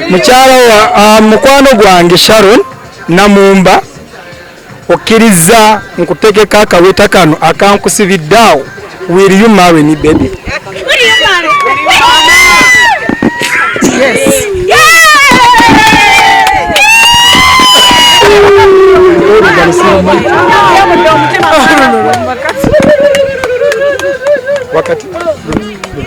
mukyala wa ah, mukwano gwange sharon namumba okkirizza nkutegeka akaweta kano akankusibidde awo will you marry me baby wakati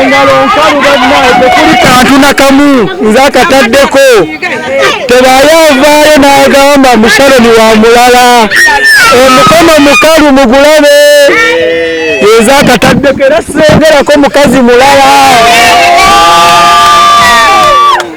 engalo nkalu bannaye tekuli kantu nakamu nze akataddeko tebaayo avaayo n'agamba mushaloni wa mulala omukono mukalu mugulabe eza akataddeko era sengerako mukazi mulala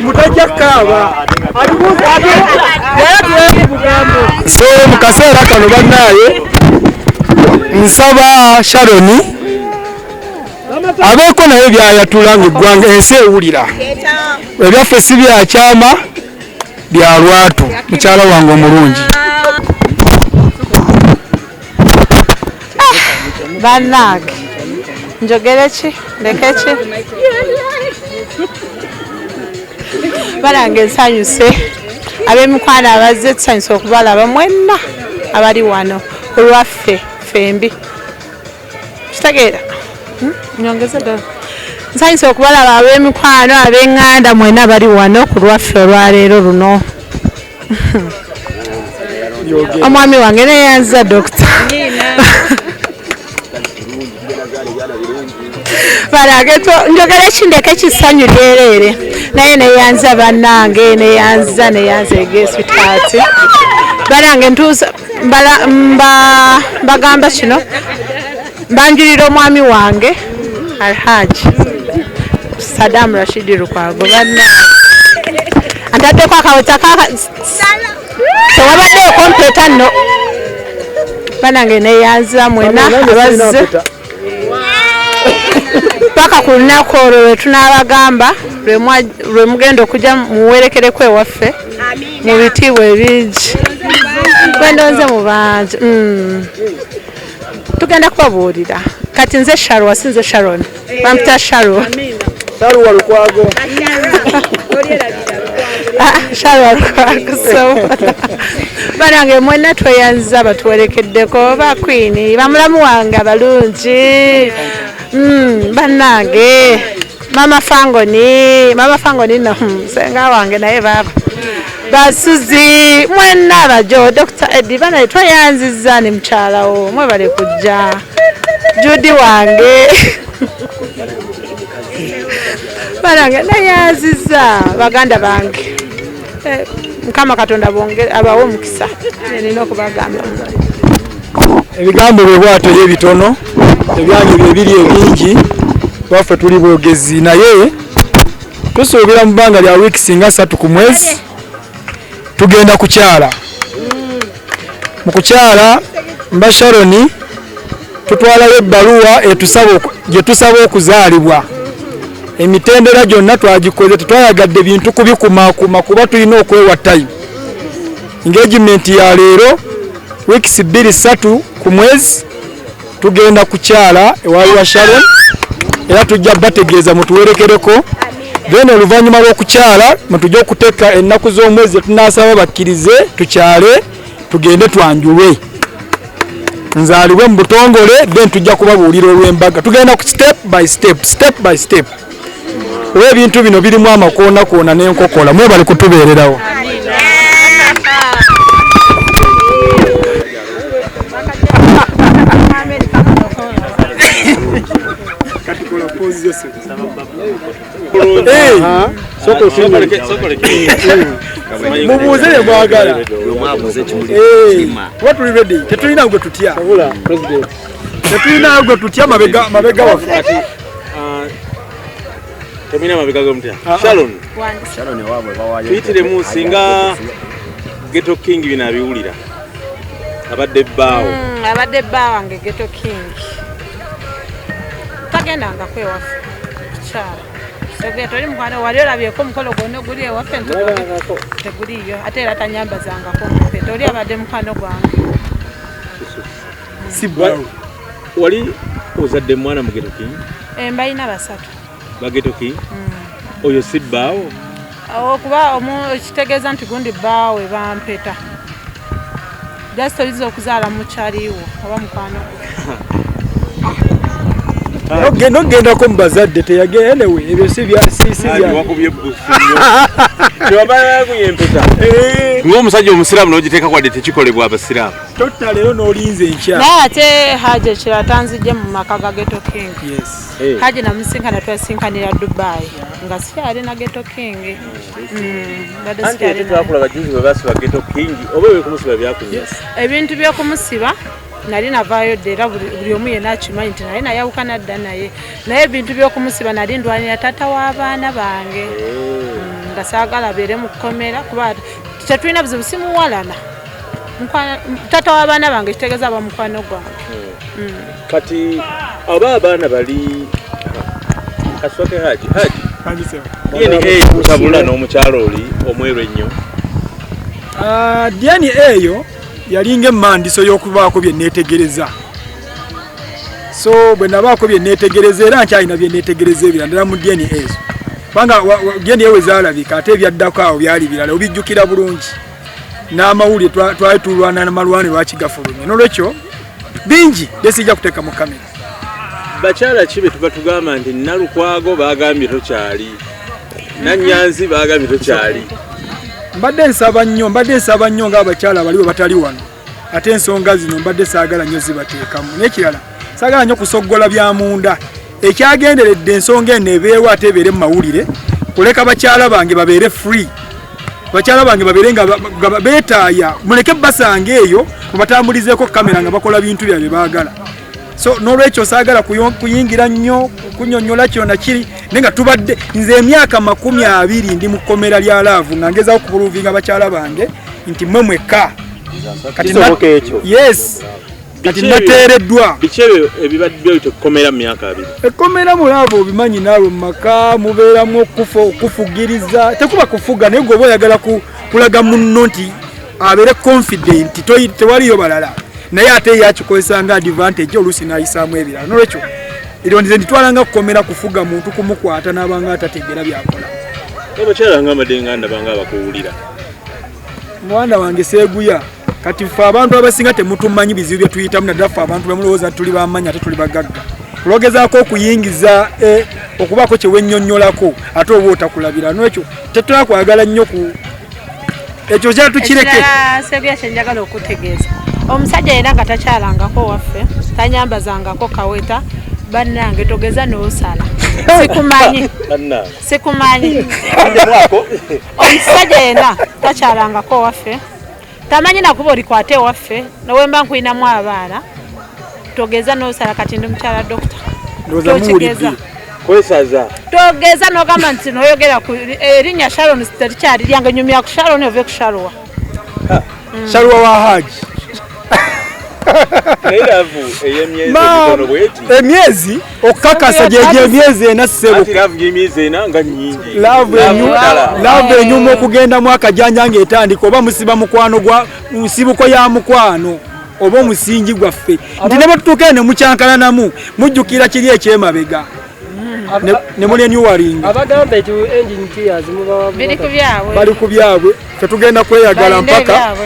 mutajja kaaba so mu kaseera kano bannaaye nsaba sharoni abeeko naye byayatula nga eggwanga ensi ewulira ebyaffe si byakyama bya lwatu mukyala wange omulungi banange njogere ki ndeke ki banange nsanyuse abemikwano abazze tusanyuse okubalaba mwenna abali wano olwaffe fembi kitegeera hmm? nyongeze ddala nsanyusa okubalaba ab'emikwano ab'eŋŋanda mwena bali wano ku lwaffe olwaleero luno omwami wange neyanziza dokita njogera ekindeka ekisanyu lyereere naye neyanza bannange neyanziza neyanza egesitaati banange ntuusa mbagamba kino mbanjulira omwami wange alhaji sadamu rashidi lukwago banna antaddeko akaweta tewabaddeyo kompeta nno banange neyanzira mwena abazze paka ku lunaku olwo lwe tunaabagamba lwe mugenda okujja muwerekereku ewaffe mu bitiibwa ebingi kwendonze mu bangi mm. tugenda kubabuulira kati nze sharwa si nze sharon bampita sharwa sharwa lukwago Ah, shalwa lwakusoma banange mwena tweyanziza batuwerekeddeko oba kwini bamulamu wange abalungi hmm, banange mama fangoni mama fangoni no hmm, senga wange naye baba basuzi mwena abajo dr edi banaye tweyanziza ne mukyalawo mwebale kujja judi wange balange naye aziza baganda bange eh, mukama katonda abawe omukisa nina okubagamba ebigambo bwe bwato ye bitono ebyanyu byebiri ebingi baffe tuli bogezi naye tusuubira mu bbanga lya wiiki singa satu ku mwezi tugenda kukyala mu kukyala mba sharoni tutwalayo ebbaluwa gye tusaba okuzaalibwa emitendera gyonna twagikoze tetwayagadde bintu kubikumakuma kuba tulina okwewa time engagement ya leero weeks bbiri ssatu ku mwezi tugenda kukyala ewaali wa sharon era tujja bategeeza mutuwerekereko then oluvannyuma lw'okukyala mutujja okuteeka ennaku z'omwezi zetunaasaba bakkirize tukyale tugende twanjulwe nzaalibwe mu butongole then tujja kubabuulira olw'embaga tugenda ku step by step step by step kuba ebintu bino birimu amakoonakoona n'enkokola mwebali kutubeererawo mubuuze ye mwagala kuba tuli redi tetulina gwe tutya tetulina gwe tutya mabega waffe Ah, Tomina mabega go mutya. Ah, ah. Sharon. Sharon wabwe bawayo. Pitire mu singa Ghetto King bina biwulira. Abadde baawo. Mm, abadde baawo nge Ghetto King. Tagenda nga kwewafu. Kichara. Sogea toli mukwana wali olabye ko mukolo gwonna oguli ewaffe teguliyo ate era tanyambazangako mpe toli abadde mukwano gwange si bwalu wali ozadde mwana mugetoki eh, mbalina basatu bagetoki hmm. oyo si bbaawo okuba kitegeeza nti gundi bbaawe bampeta just oyinza okuzaala mukyaliwo oba mukwano ogenda okugendako mu bazadde teyagenda newe ebyo si byasisibyaomusajja omusiraamu nogiteeka kwadde tekikolebwa abasiraamu totta leero n'olinza enkya naye ate haji ekirala tanzijje mu maka ga geto king eh. haji namusinkana twasinkanira dubai nga sikyali na geto king ebintu byokumusiba nali navaayo dda era buli omu yena akimanyi nti naye nayawukana dda naye naye ebintu byokumusiba nali ndwanira taata w'abaana bange eh. mm, nga saagala beere mu kkomera kuba tetulina buzibu simuwalana tata wabaana bange kitegeza aba mukwano gwange hmm. Hmm. kati aba abaana bali kaswake haji haji tabula n'omukyalo oli omweru ennyo ah, diani eyo yalinga emandiso y'okubaako bye neetegereza so bwe nabaako bye neetegereza era nkyalina bye neetegereza ebira ndala mu diani ezo kubanga diani ewe zaalabika ate ebyaddako awo byali birala obijjukira bulungi n'amawulire twali tulwana na malwani lwaki gafulumye nolwekyo bingi byesijja kuteeka mu kamera bakyala ki betuba tugamba nti nalukwago bagambye tokyali nanyanzi bagambye tokyali mbadde nsaba nnyo mbadde nsaba nnyo ngaabakyala baliwe batali wano ate ensonga zino mbadde saagala nnyo zibateekamu n'ekirala saagala nnyo kusoggola bya munda ekyagenderedde ensonga eno ebeewo ate ebeere mu mawulire kuleka bakyala bange babeere free bakyala bange babeere nga beetaaya muleke basanga eyo mubatambulizeeko kamera nga bakola bintu bya bye baagala so n'olwekyo saagala kuyingira nnyo kunyonyola kyona kiri naye nga tubadde nze emyaka makumi abiri ndi mu kkomera lya laavu nga ngezaho okubuluvinga bakyala bange nti mwe mwekka kati yes kati nateereddwa biki ebyo ebibadde ebyo tekukomera mu myaka abiri ekkomera mulaaba obimanyi naalwo mu maka mubeeramu okufa okufugiriza tekuba kufuga naye gweoba oyagala kulaga munno nti abeere confident tewaliyo balala naye ate ye akikozesa nga advantage oluusi n'ayisaamu ebirala nolwekyo eryo ndize nditwalanga kukomera kufuga muntu kumukwata n'abanga atategeera byakola abakyala nga mbadde nga ndabanga abakuwulira mwana wange seguya kati ffe abantu abasinga temutumanyi bizibu byetuyitamu naddala ffe abantu bemulowooza tuli bamanyi ate tuli bagagga kulogezaako okuyingiza eh, okubaako kyewenyonyolako ate oba otakulabira nwekyo tetulakwagala nnyo ku ekyo kyatukireke seguya kyenjagala okutegeeza omusajja yena nga takyalangako waffe tanyambazangako kaweta bannange togeza nosala sikumanyi sikumanyi omusajja yena takyalangako owaffe tamanyi nakuba olikwata ewaffe nowemba nkulinamu abaana togeza nosala kati ndi mukyala dokita tokigeza kwesaza togeza nogamba nti noyogera ku erinnya eh, sharon terikyali lyange nyumya ku sharon ove ku shalwa shalwa wa haji emyezi okukakasa gyegyo emyezi ena ssebulaavu enyuma okugenda mu akajanja ngaetandika oba musiba mukwano gwa nsibuko ya mukwano oba omusingi gwaffe nti ne bwetutuuka eno mukyankalanamu mujjukira kiri ekyemabega ne mune new waring abagamba eti engine tears mubawa bili kubyabwe bali kubyabwe fe tugenda kweyagala mpaka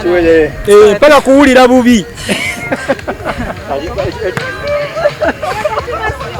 tuwele eh pala kuwulira bubi